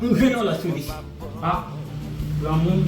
M gen yon lòt solisyon a granmoun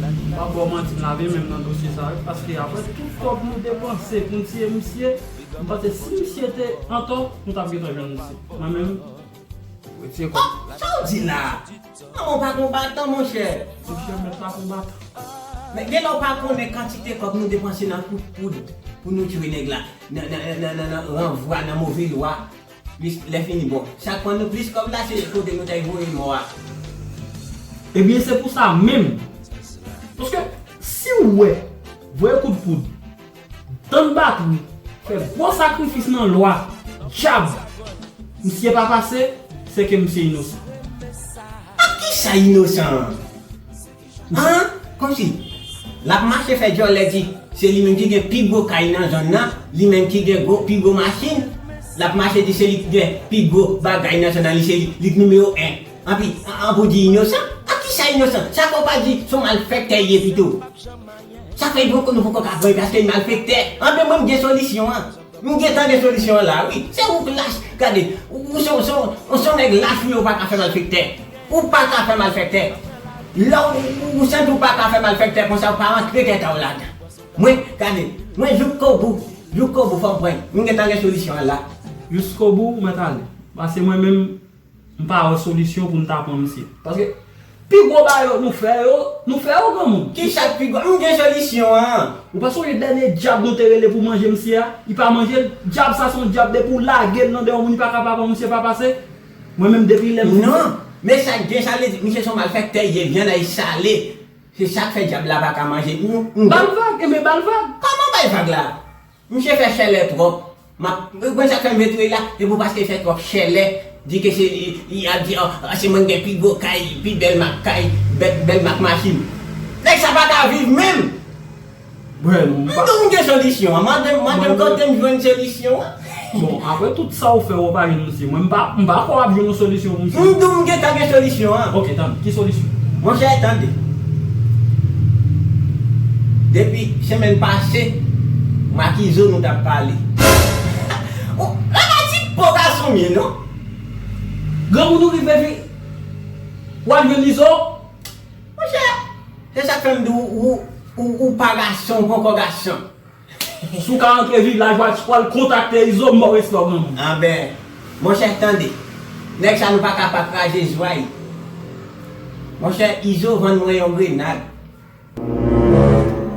m pap baw manti m lave menm nan dosye sa wi paske aprè tout kòb nou depanse poun tiye misye m panse si misye te antò nou tap gentan jwenn misye mwen menm m retire kòm m. Sa w di la a? Manman w pa konbatan monchè. Monchè mèt la konbatan. Men gen lè w pa konnen kantite kòb nou depanse nan kout poud pou nou jwe nèg la nan nan nan nan ranvwa nan move lwa Plis lè fini bon. Chak fwa nou plis kòb la se kote nou tay voye lò a. Ebyen se pou sa menm. Paske siw wè voye kout poud, tann batri, fè gwo sakrifis nan lò a, dyab, misye pa pase, se ke misye inosan. Ak kisa inosan an? An! Komsi, l ap mache fè djòlè di se li menm ki gen pi gwo kay nan zòn nan, li menm ki gen gwo pi gwo machin, l ap mache di se li ki gen pi gwo bagay nan zòn nan, li se li, li nimewo 1. Anpi, an pou di inosan? Ak ki sa inosan? Sa fè w pa di se w malfèktè l ye pito? Sa fè yon konn ou poko ka pran li paske l malfèktè? Anpi mwen m gen solisyon an. Nou gentan gen solisyon an la wi. Se ou ki lach. Gade, ou se yon nèg lach wi ou pa ka fè malfektè. Ou pa ka fè malfektè. Lè ou santi ou pa ka fè malfektè konsa ou pa rantre tèt a ou ladan. Mwen, gade, mwen jouskobou. Jouskobou fòm pwen. Nou gentan gen solisyon an la. Jouskobou mwen ta ale. Pase mwen menm M pa wè solisyon pou m ta pran misye. Paske pi gwo bagay yo nou fè yo, nou fè yo granmoun. Kicha k pi gwo? M gen solisyon an! Ou pa sonje dènye djab nou te rele pou manje misye a? Li pa manje l? Djab sa se yon djab depi w lage l nan den yon moun li pa ka pa pran misye pa pase. Mwen menm depi lè m fin. Non! Men sa k gen sa vle di misye se yon malfèktè je vyann a e sale. Se sa k fè djab la pa ka manje. Ba l vag! Enben ba l vag! Kòman bay vag la? Misye fè chèlè trop. Map Mwen sak fèm vle touyel la se pou paske fè trop chèlè di ke se li yap di an se mwen ki gen pi gwo kay pi bèl mak kay bèl mak machin nèg sa paka viv menm Bruh m pa. Mwen gen solisyon an mandem mandem kotem jwenn solisyon an. Sa ou fè ou pa jwenn yon misye. Mwen m pa kwè w ap jwenn yon solisyon pou misye. M di w m gentan gen solisyon an. Ok tande, ki solisyon? Monchè tande. Depi semèn pase, mak Izo nou t ap pale. Lakay ti po gason m ye non. Granmoun ou rive vin. Ou al jwenn Izo? Monchè, se sa k fè m di w ou pa gason, ou poko gason. Si w ka antre viv lajwa tu pral kontakte izo mbaw respè w granmoun. Anben monchè tande nèg sa nou paka pa kraze zway monchè izo vann mwen yon grenad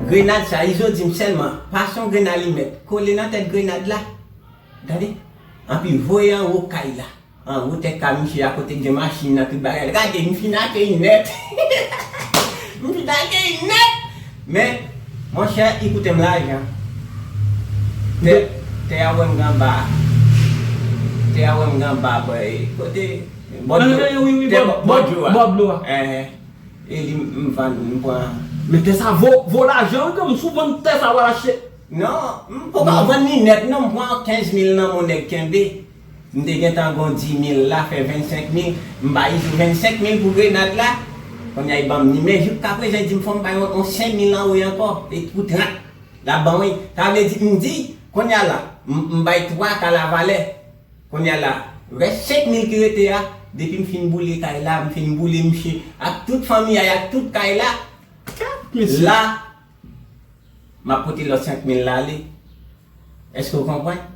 grenad sa izo dim sèlman pa son grenn alimèt kole nan tèt grenad la tande anpi voye anwo kay la. An gwo tèt ka misye a kote gen machin nan tout bagay gade m fin akeyi nèt m fin akeyi nèt men monchè li koute m lajan tè a wè m ganba tè a wè m ganba boy kote bò dlo a e li m vann m pran men tè sa vo lajan wi frèm sou vann tè sa wal achte nan m poko vann li nèt non m pran 15 mil nan m on nèg kenbe. M te gentan gon dimil la fè 25 mil m ba li jou 25 mil pou grenad la konnya li banm ni men jouk ka prezan li dim fòm bay on 5 mil an woy ankò e t pou 30 lap ban wi sa vle di m di konnya la m bay 3 ka la valè konnya la rès 5 mil ki rete a depi m fin boule kay la m fin boule mnchè ak tout fanmi a ak tout kay la la map pote lòt 5 mil la ale èske ou konprann.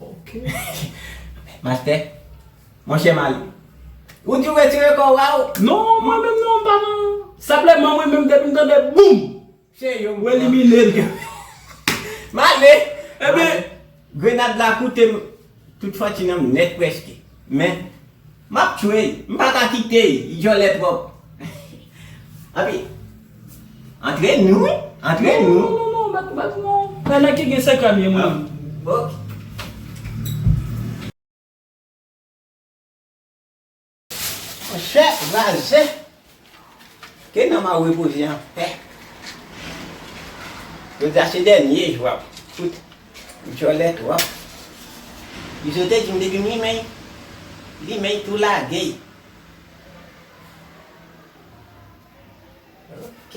Ok Master Monchè Malie Ou di w retire kò w a ou Non mwen menm non m pa nan Senpleman mwen menm depi m tande boum Cheri yo m pran M elimine l Malie Ebyen Grenad la koute m Tout fanti nan m nèt prèske Men Map tchwey m paka kitey li djòlè tròp Anpi Antre nou wi Antre nou Non non non bat bat non Bay nèg ki gen sekrè byen mwen menm Ok. Monchè razè. Ke nanm a repoze an pè. Jodi a se dènye jou ap fout djòlè twòp. Izo te di m depi m limen limen y tou lage y. Ok.